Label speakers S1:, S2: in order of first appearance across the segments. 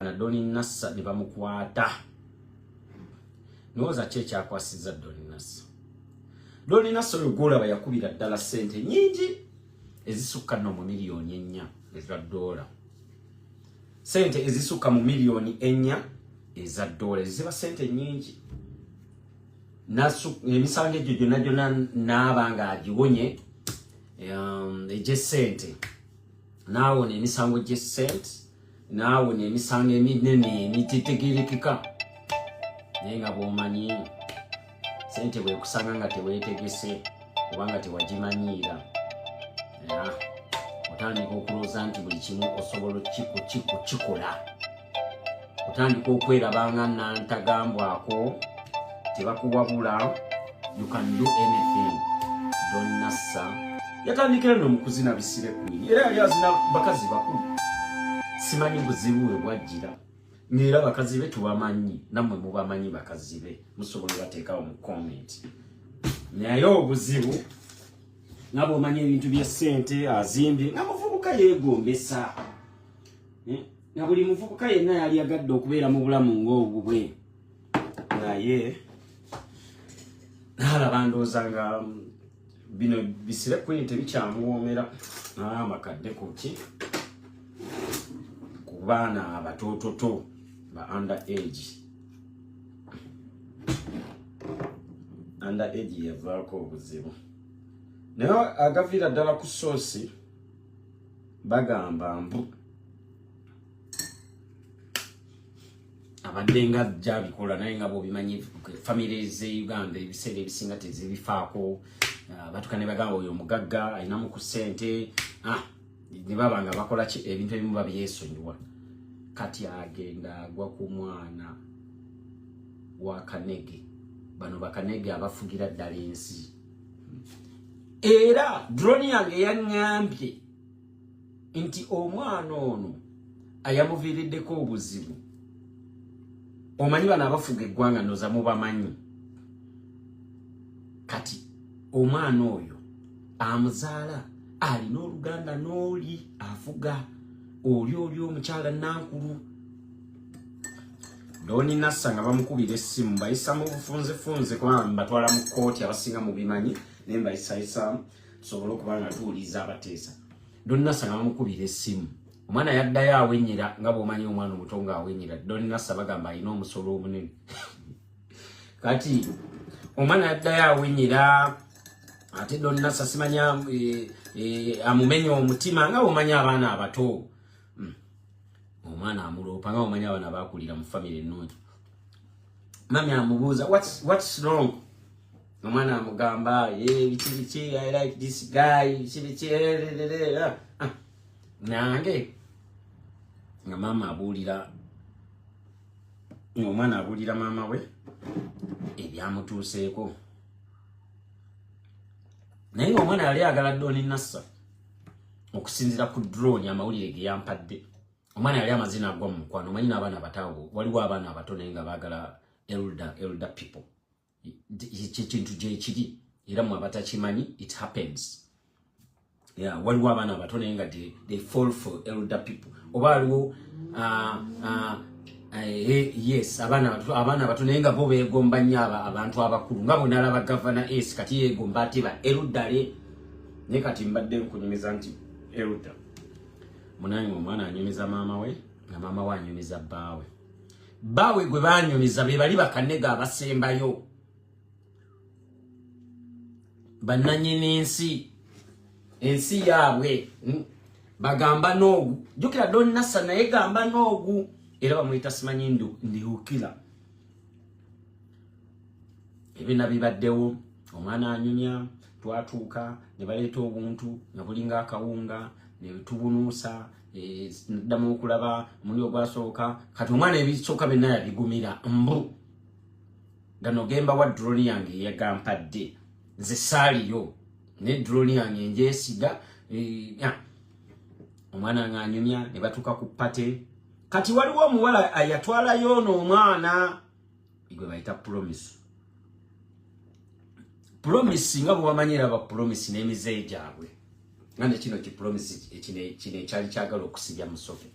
S1: na Doni Nassa ne bamukwata nowooza ki ekyakwasizza Doni Nassa Doni Nassa oyo gwolaba yakubira ddala ssente nyingi ezisukka no mu miliyoni ennya eza doola ssente ezisukka mu miliyoni ennya eza doola eziba ssente nyingi emisango egyo gyonna gyonna naaba nga agiwonye um, egyessente naawona emisango gyessente naawe nemisango eminene emitetegerekeka naye nga bwomanyi sente bwekusanga nga tewetegese kubanga tewagimanyiira otandika okulooza nti buli kimu osobola kukikola otandika okwerabanga nantagambwako tebakuwabula you can do anything donasa yatandikira no mukuzina bisire kwini era yali azina bakazi bakulu simanyi buzibu we bwajjira neera bakazi be tubamanyi nammwe mubamanyi bakazi be musobola obateekawo mu comment naye obuzibu nga bwomanyi ebintu byesente azimbye nga muvubuka yegombesa eh, nga buli muvubuka yenna yali agadde okubeera mu bulamu ng'obubwe naye nalaba ndooza nga um, bino bisire kwini tebikyamuwoomera naye amakadde kuki ku baana abatoototo ba under age under age yavaako obuzibu naye agaviira ddala ku soosi bagamba mbu abadde nga gyabikola naye nga bwobimanyi famiry ze uganda ebiseera ebisinga tezibifaako ah, batuka ne bagamba oyo omugagga alinamu ku ssente ah, ne baba nga bakola ki ebintu ebimu babyesonyiwa kati agenda agwa ku mwana wa kanege bano bakanege abafugira ddala ensi era drone yange yaŋambye nti omwana ono ayamuviiriddeko obuzibu omanyi bano abafuga eggwanga noza mubamanyi kati omwana oyo amuzaala alina oluganda n'oli afuga oli oli omukyala nankulu doni nassa nga bamukubira essimu bayisa mu bufunzefunze kubanga batwala mu kkooti abasinga mu bimanyi naye mbayisayisamu tusobole okuba nga tuwuliriza abateesa donnasa nga bamukubira essimu omwana yaddayo awenyera nga bwomanyi omwana omuto nga awenyera donnasa bagamba alina omusolo omunene kati omwana yaddayo awenyera ate donnasa simanya eh, eh, amumenya omutima nga bwomanyi abaana abato hmm. omwana amuloopa nga bwomanyi abaana bakulira mu famiry ennungi mami amubuuza what's, what's wrong omwana amugamba biki biki i like this guy biki biki ah, ah. nange nga maama abuulira ngaomwana abuulira maama we ebyamutuuseeko naye ngaomwana yali agala doni nassa okusinzira ku drone amawulire geyampadde omwana yali amazina agwa mu mukwano omanyi naabaana abataawo waliwo abaana abato naye nga baagala elder elder people kyekintu gyekiri era mwe abatakimanyi it happens yeah, waliwo abaana abato naye nga they fall for elder people oba waliwo uh, uh, Eh, yes abaana abato naye nga bo begomba nnyo abantu abakulu nga bwenalaba gavana es kati yegomba ate ba erudale naye kati mbadde nkunyumiza nti eruda munange omwana anyumiza maama we nga maama we anyumiza bbaawe bawe gwe banyumiza be bali bakanega abasembayo bananyini ensi ensi yaabwe hmm? bagamba noogu jukira don nasa naye gamba noogu era bamuyita simanyi ndu ndiukila ebina bibaddewo omwana anyumya twatuuka ne baleeta obuntu ne bulinga akawunga ne tubunuusa eh, ddamu okulaba muli ogwasooka kati omwana ebisooka byonna yabigumira mbu gano gemba wa droni yange eyagampadde nze saaliyo ne droni yange enjesiga eh, omwana nga anyumya ne batuuka ku pate kati waliwo omuwala ayatwalayo ono omwana igwe bayita promise promise nga bwebamanyi era bapromise n'emizeeyi gyabwe nga nekino kipromise kino ekyali kyagala okusibya musoke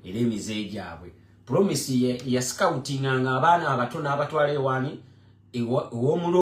S1: era emizeeyi gyabwe promise yascoutinga nga abaana abato n'abatwala ewaani ew'omulo